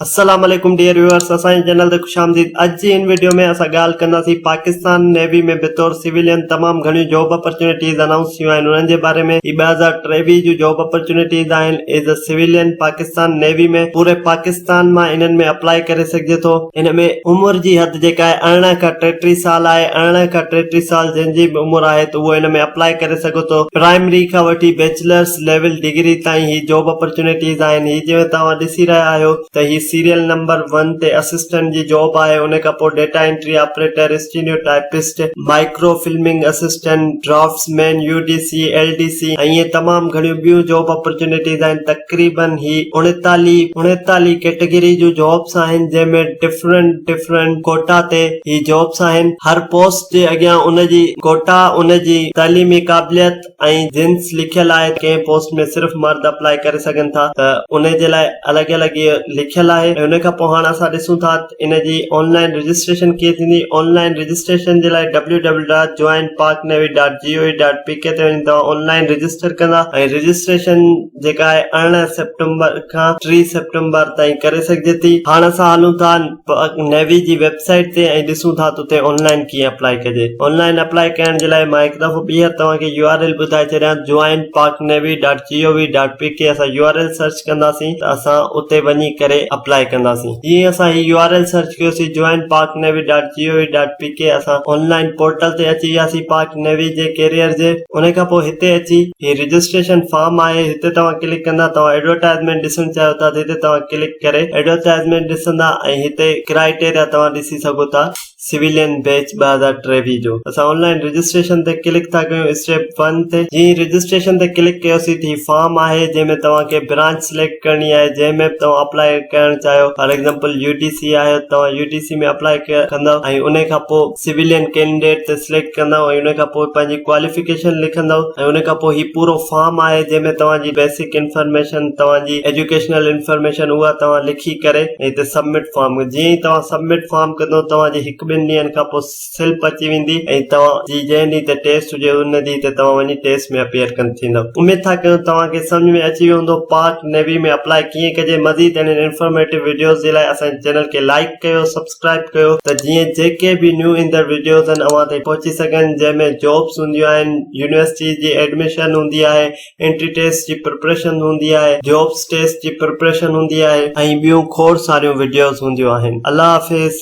السلام عليڪم dear viewers اسان جي چينل تي خوش آمديد اڄ جي ان ويڊيو ۾ اسان ڳالهه ڪنداسين پاڪستان نيوي ۾ بطور سويلين تمام گهڻيون جاب اپرچونيٽيز انائونس ٿيون آهن انهن جي باري ۾ هي ٻه هزار ٽيويهه جون جاب اپرچونيٽيز آهن as a civilian Pakistan navy ۾ پوري پاڪستان مان انهن ۾ اپلاء ڪري سگهجي ٿو ان ۾ عمر جي حد جيڪا آهي ارڙهن کان ٽيٽيهه سال آهي ارڙهن کان ٽيٽيهه سال جنهن جي به عمر آهي ته اهو ان ۾ اپلاء ڪري سگهو ٿو پرائمري کان وٺي بيچلرس ليول ڊگري تائين هي جاب اپرچونيٽيز آهن هي جيئن توهان ڏسي رهيا آهيو ته هي سيريل نمبر ون تي اسسٽنٽ جي جاب آهي ان کان پوء data entry operator steno typist micro filming assistant draftsman U D C L D C ۽ ائين تمام گهڻيون ٻيون جاب اپرچونيٽيز آهن تقريبا هي اڻيتاليهه اڻيتاليهه ڪيٽيگري جون جابس آهن جنهن ۾ ڊفرنٽ ڊفرنٽ ڪوٽا تي هي جابس آهن هر پوسٽ جي اڳيان ان جي ڪوٽا ان جي تعليمي قابليت ۽ جنس لکيل آهي ڪنهن پوسٽ ۾ صرف مرد اپلائي ڪري سگهن ٿا ته ان جي لاء الڳ الڳ اهي لکيل آهي ۽ ان کان پوء هاڻ اسان ڏسون ٿا ته ان جي آن لائن رجسٽريشن ڪيئن ٿيندي آن لائن رجسٽريشن جي لاء W W dot join Pak navy dot G O V dot P K تي وڃي توهان آن لائن رجسٽر ڪندا ۽ رجسٽريشن جيڪا آهي ارڙهن سيپٽمبر کان ٽي سيپٽمبر تائين ڪري سگهجي ٿي هاڻ اسان هلون ٿا پاڪ نيوي جي ويب سائيٽ تي ۽ ڏسون ٿا ته اتي آنلائن ڪيئن اپلائي ڪجي آنلائن اپلائي ڪرڻ جي لاء مان هڪ دفعو ٻيهر توهان کي يو آر ايل ٻڌائي ڇڏيان joinpaknavy.gov.pk اسان يو آر ايل سرچ ڪنداسين ته اسان اتي وڃي ڪري اپلائي ڪنداسين جيئن ئي اسان هي يو آر ايل سرچ ڪيوسين joinpaknavy.gov.pk اسان آنلائن پورٽل تي اچي وياسين پاڪ نيوي جي ڪيريئر جي انهي کان پوء هتي اچي هي رجسٽريشن فارم آهي هتي توهان ڪلڪ ڪندا توهان ايڊورٽائزمينٽ ڏسڻ چاهيو ٿا ته هتي توهان ڪلڪ ڪري ايڊورٽائزمينٽ ڏسندا ۽ هتي ڪرائيٽيريا توهان ڏسي سگهو ٿا سويلين بيچ ٻه هزار ٽيويهه جو اسان آن لائين رجسٽريشن تي ڪلڪ ٿا ڪيون اسٽيپ ون تي جي هي رجسٽريشن تي ڪلڪ ڪيوسي ته هي فارم آهي جنهن ۾ توهان کي برانچ سليڪٽ ڪرڻي آهي جنهن ۾ به توهان اپلائي ڪرڻ چاهيو for example U D C آهي توهان يو ڊي سي ۾ اپلائي ڪندو ۽ انهي کان پوء سويلين ڪينڊيڊيٽ تي سليڪٽ ڪندؤ ۽ ان کان پوء پنهنجي ڪواليفڪيشن لکندؤ ۽ ان کان پوء هي پورو فارم آهي جنهن ۾ توهان جي بيسڪ انفارميشن توهان جي ايجوڪيشنل انفارميشن اها توهان لکي ڪري ۽ هتي سبمٽ فارم جيئن ئي توهان سبمٽ فارم ڪندؤ توهان جي هڪ ٻن ڏينهن کان پوء سلپ اچي ويندي ۽ توهان جي جنهن ڏينهن تي ٽيسٽ هجي ان ڏينهن تي توهان وڃي ٽيسٽ ۾ اپيئر ڪن ٿيندؤ اميد ٿا ڪيون توهان کي سمجهه ۾ اچي ويو هوندو پاڪ نيوي ۾ اپلائي ڪيئن ڪجي مزيد اهڙين انفارميٽو وڊيوز جي لاء اسان جي چينل کي لائڪ ڪيو سبسڪرائب سبسڪرائب ڪيو ته جيئن جيڪي به نيون ايندڙ وڊيوز آهن اوهان تائين پهچي سگهن جنهن ۾ جابس هونديون آهن يونيورسٽيز جي ايڊميشن هوندي آهي انٽري ٽيسٽ جي پريپريشن هوندي آهي جابس ٽيسٽ جي پريپريشن هوندي آهي ۽ ٻيون کوڙ ساريون وڊيوز هونديون آهن الله حافظ.